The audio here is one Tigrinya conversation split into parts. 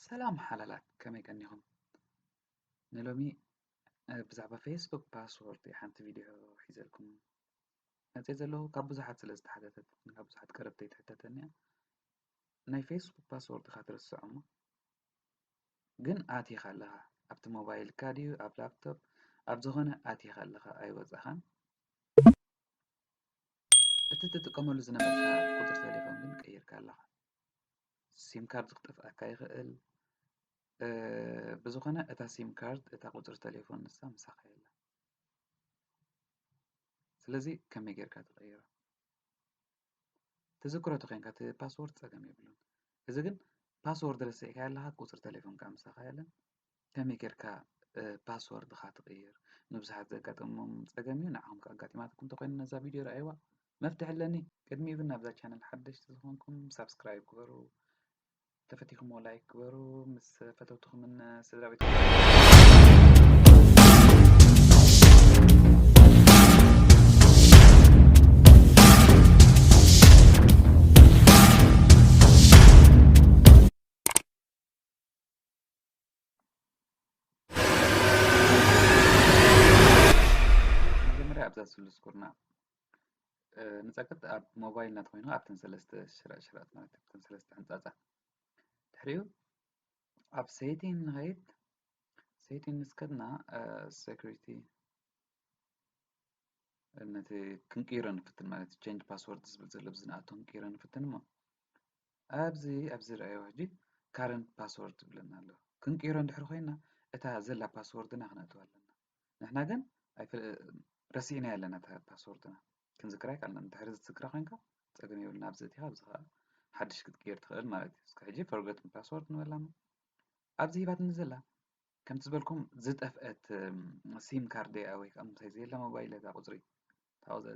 ሰላም ሓላላት ከመይ ቀኒኹም ንሎሚ ብዛዕባ ፌስቡክ ፓስወርድ ሓንቲ ቪድዮ ሒዘልኩም መፅእ ዘለኹ ካብ ብዙሓት ስለ ዝተሓተተት ካብ ብዙሓት ቀረብቲ ይትሕተተኒ እያ ናይ ፌስቡክ ፓስወርድ ኢኻ ትርስዖ እሞ ግን ኣቲኻ ኣለኻ ኣብቲ ሞባይልካ ድዩ ኣብ ላፕቶፕ ኣብ ዝኾነ ኣቲኻ ኣለኻ ኣይወፃኻን እቲ ትጥቀመሉ ዝነበርካ ቁፅሪ ቴሌፎን ግን ቀይርካ ኣለኻ ሲም ካርድ ክጠፍኣካ ይኽእል ብዝኾነ እታ ሲም ካርድ እታ ቁፅሪ ቴሌፎን ንሳ ምሳኻ የላ ስለዚ ከመይ ጌርካ ትቐይሮ ትዝክሮ ተኮይንካ እቲ ፓስወርድ ፀገም የብሉን እዚ ግን ፓስወርድ ረሲዕካ ኣለኻ ቁፅሪ ቴሌፎን ከዓ ምሳኻ የለን ከመይ ጌርካ ፓስወርድኻ ትቕይር ንብዙሓት ዘጋጠሞም ጸገም እዩ ንዓኹም ከኣጋጢማትኩም እንተኮይኑ ነዛ ቪድዮ ረኣይዋ መፍትሒ ኣለኒ ቅድሚኡ ግን ናብዛ ቻነል ሓደሽቲ ዝኾንኩም ሳብስክራይብ ግበሩ ተፈቲኹምዎ ላይክ ግበሩ ምስ ፈተውትኹምን ስድራ ቤት መጀመርያ ኣብዛ ስሉስ ኩርና ንፀቅጥ ኣብ ሞባይል ናት ኮይኑ ኣብተን ሰለስተ ሽራእ ሽራኣት ማለት ኣብተን ሰለስተ ሕንፃፃ ድሕሪኡ ኣብ ሴቲን ንኸይድ ሴቲን ምስ ከድና ሴኩሪቲ ነቲ ክንቅይሮ ንፍትን ማለት ቸንጅ ፓስወርድ ዝብል ዘሎ ብዝንኣቶ ክንቅይሮ ንፍትን እሞ ኣብዚ ኣብዚ ረኣይዎ ሕጂ ካረንት ፓስወርድ ዝብለና ኣሎ ክንቅይሮ እንድሕር ኮይና እታ ዘላ ፓስወርድና ክነእትዋ ኣለና ንሕና ግን ረሲዕናያ ኣለና እታ ፓስወርድና ክንዝክራ ይካልና እንድሕር ዝትዝክራ ኮይንካ ፀገም የብልና ኣብዚ እቲኻ ኣብዚ ከዓ ሓድሽ ክትቅይር ትኽእል ማለት እዩ እስከ ሕጂ ፈርገት ፓስወርድ ንበላሞ ኣብዚ ሂባትኒ ዘላ ከምቲ ዝበልኩም ዝጠፍአት ሲም ካርድ እያ ወይ ከዓ ምሳይ ዘየላ ሞባይል እታ ቁፅሪ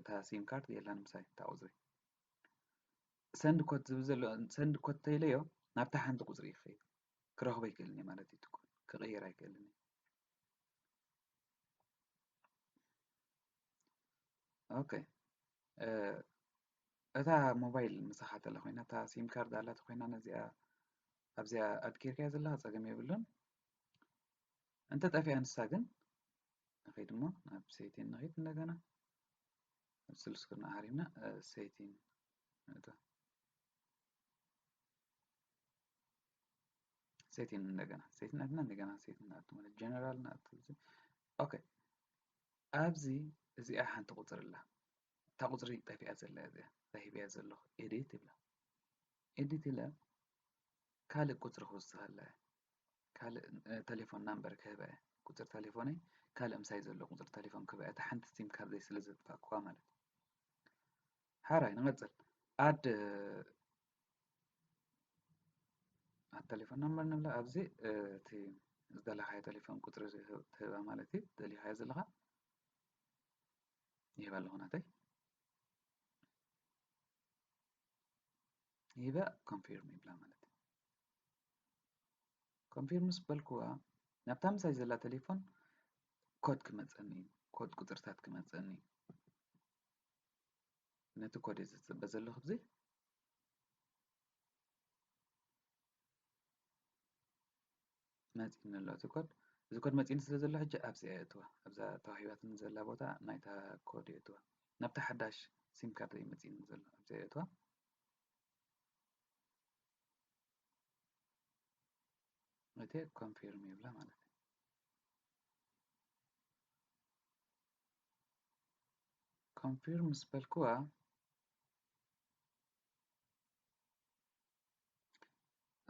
እታ ሲም ካርድ የላን ምሳይ እታ ቁፅሪ ሰንድ ኮት ዝብል ዘሎ ሰንድ ኮት እንተኢለዮ ናብታ ሓንቲ ቁጽሪ እዩ ክኸይድ ክረኽቦ ኣይክእልን እየ ማለት እዩ እቲ ኮድ ክቕይር ኣይክእልን እየ ኦኬ እታ ሞባይል ምሳኻ ተላ ኮይና እታ ሲም ካርድ ኣላተ ኮይና ነዚኣ ኣብዚኣ ኣድኪርካያ ዘለካ ፀገም የብሉን እንተ ጠፊኣ ንሳ ግን ንኸይድ እሞ ናብ ሴቲን ንኸይድ እንደገና ንጽል ስክሪን ኣህሪና ሴቲን ነታ ሴቲን እንደገና ሴቲን ኣትና እንደገና ሴቲን ናቱ ማለት ጀነራል ናቱ ኦኬ ኣብዚ እዚኣ ሓንቲ ቁጽሪ ኣላ እታ ቁጽሪ ጠፊኣ ዘላ እዚኣ ሂብያ ዘለኹ ኤዲት ይብላ ኤዲት ኢለ ካልእ ቁጽሪ ክውስኸላ ካልእ ተሌፎን ናምበር ክህባ እየ ቁፅሪ ተሌፎነይ ካልእ ምሳይ ዘሎ ቁፅሪ ተሌፎን ክህባ እየ እታ ሓንቲ ሲም ካብዘይ ስለ ዘጥፋእኩዋ ማለት እዩ ሓራይ ንቐፅል ኣድ ኣብ ተሌፎን ናምበር ንብላ ኣብዚ እቲ ዝደለኻዮ ተሌፎን ቁፅሪ ትህባ ማለት እዩ ደሊኻዮ ዘለኻ ይህባ ኣለኹ ናተይ ይበእ ኮንፊርም ይብላ ማለት እዩ ኮንፊርም ምስ በልክዋ ናብታ ምሳይ ዘላ ቴሌፎን ኮድ ክመፀኒ እዩ ኮድ ቁፅርታት ክመፀኒ እዩ ነቲ ኮድ እየ ዝፅበ ዘለኹ ብዚ መጺኒ ኣሎ እቲ ኮድ እዚ ኮድ መጺኒ ስለ ዘሎ ሕጂ ኣብዚ እየ እትዋ ኣብዛ ተዋሂባትኒ ዘላ ቦታ ናይታ ኮድ እየ እትዋ ናብታ ሓዳሽ ሲም ካርድ እዩ መጺኒ ዘሎ ኣብዚ እየ እትዋ እቲ ኮንፊርም ይብላ ማለት እዩ ኮንፊርም ምስ በልክዋ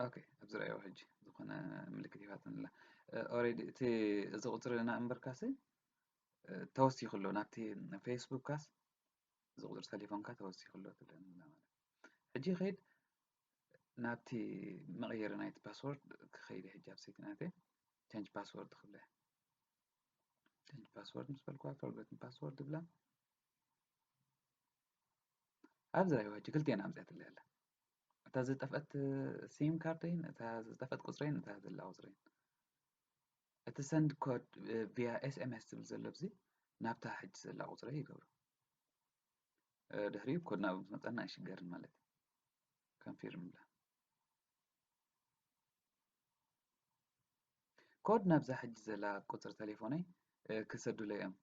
ኦኬ ኣብዚ ረኣዮ ሕጂ ዝኾነ ምልክት ይፋትን ኣላ ኦሬዲ እቲ እዚ ቁፅሪ ና እምበርካሲ ተወሲኹ ኣሎ ናብቲ ፌስቡክካስ እዚ ቁፅሪ ቴሌፎንካ ተወሲኹ ኣሎ ትለን ማለት ሕጂ ከይድ ናብቲ መቐየሪ ናይቲ ፓስወርድ ክኸይደ ሕጂ ኣብ ሴቲናት ቸንጅ ፓስወርድ ክብለ ቸንጅ ፓስወርድ ምስ በልኩዋ ፎርገትን ፓስወርድ ብላ ኣብዚ ራይዋ ሕጂ ክልቲኤን ኣምጺኣትለይ ኣላ እታ ዝጠፍአት ሲም ካርደይን እታ ዝጠፍአት ቁጽረይን እታ ዘላ ቁጽረይን እቲ ሰንድ ኮድ ቪያ ኤስኤምኤስ ዝብል ዘሎ ብዚ ናብታ ሕጂ ዘላ ቁጽረይ ይገብሮ ድሕሪኡ ኮድ ናብ መጠና ኣይሽገርን ማለት እዩ ከንፊርም ብላ ኮድ ናብዛ ሕጂ ዘላ ቁጽሪ ቴሌፎነይ ክሰዱለይ እዮም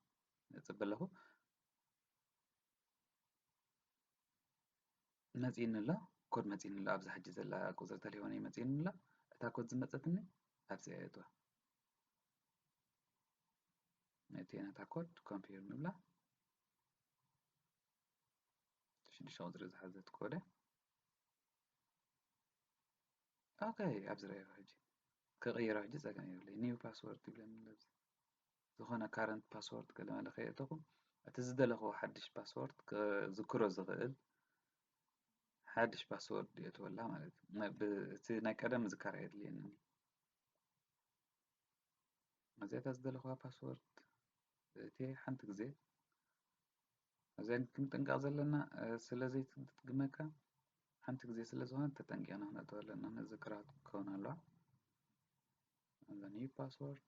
ጽበ ኣለኹ መጺእኒ ኣሎ ኮድ መጺእኒ ኣሎ ኣብዛ ሕጂ ዘላ ቁጽሪ ተሌፎነይ መጺእኒ ኣሎ እታ ኮድ ዝመጸትኒ ኣብዚኣ የእትዋ ነእትየ ነታ ኮድ ኮምፒር ንብላ ሽዱሽተ ቁጽሪ ዝሓዘት ኮደ ኦኬ ኣብዚ ረኣዮ ሕጂ ክቕይሮ ሕጂ ጸገም የብለይ ኒው ፓስወርድ ይብለኒ ኣብዚ ዝኾነ ካረንት ፓስዎርድ ገለመለ ከየእተኹ እቲ ዝደለኽዎ ሓድሽ ፓስዎርድ ክዝክሮ ዝኽእል ሓድሽ ፓስዎርድ የእትወላ ማለት እዩ እቲ ናይ ቀደም ምዝካር ኣየድልየንን እዚኣ እታ ዝደለኽዋ ፓስዎርድ እቲ ሓንቲ ግዜ እዚኣን ክንጥንቀቕ ዘለና ስለ ዘይትድግመካ ሓንቲ ግዜ ስለ ዝኾነት ተጠንቂቕና ክነእተወ ኣለና ነዚ ክራት ክኸውን ኣለዋ ኒው ፓስወርድ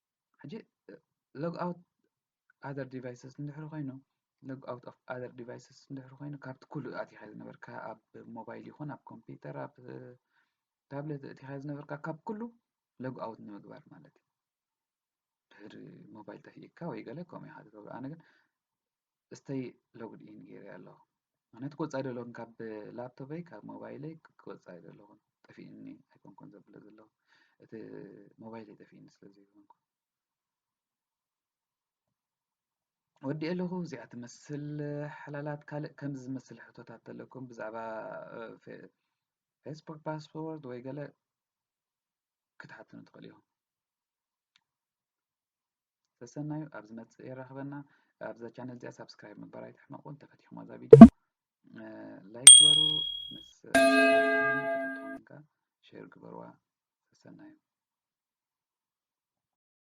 ሕጂ ሎግ ኣውት ኣዘር ዲቫይስስ እንድሕር ኮይኑ ሎግ ኣውት ኦፍ ኣዘር ዲቫይስስ እንድሕር ኮይኑ ካብቲ ኩሉ ኣቲኻ ዝነበርካ ኣብ ሞባይል ይኹን ኣብ ኮምፒውተር ኣብ ታብሌት እቲኻ ዝነበርካ ካብ ኩሉ ሎግ ኣውት ንምግባር ማለት እዩ ድሕሪ ሞባይል ጠፊእካ ወይ ገለ ከምኡ ኢኻ ዝገብሮ ኣነ ግን እስተይ ሎግድ ኢን ገይረ ኣለኹ ምክንያቱ ክወፅእ ኣይደለኹን ካብ ላፕቶፐይ ካብ ሞባይለይ ክወፅእ ኣይደለኹን ጠፊእኒ ኣይኮንኩን ዘብለ ዘለኹ እቲ ሞባይለይ ጠፊእኒ ስለ ዘይኮንኩ ወዲእ ኣለኹ እዚኣ ትመስል ሓላላት ካልእ ከምዚ ዝመስል ሕቶታት ተለኩም ብዛዕባ ፌስቡክ ፓስፖርት ወይ ገለ ክትሓትኑ ትኽእል ኢኹም ሰሰናዩ ኣብ ዝመጽእ የራኽበና ኣብዛ ቻነል እዚኣ ሳብስክራይብ ምበር ኣይትሕመቁ እንተፈቲኹማ እዛ ቪድዮ ላይክ ግበሩ ምስ ከተትኹም ሼር ግበርዋ ሰሰናዩ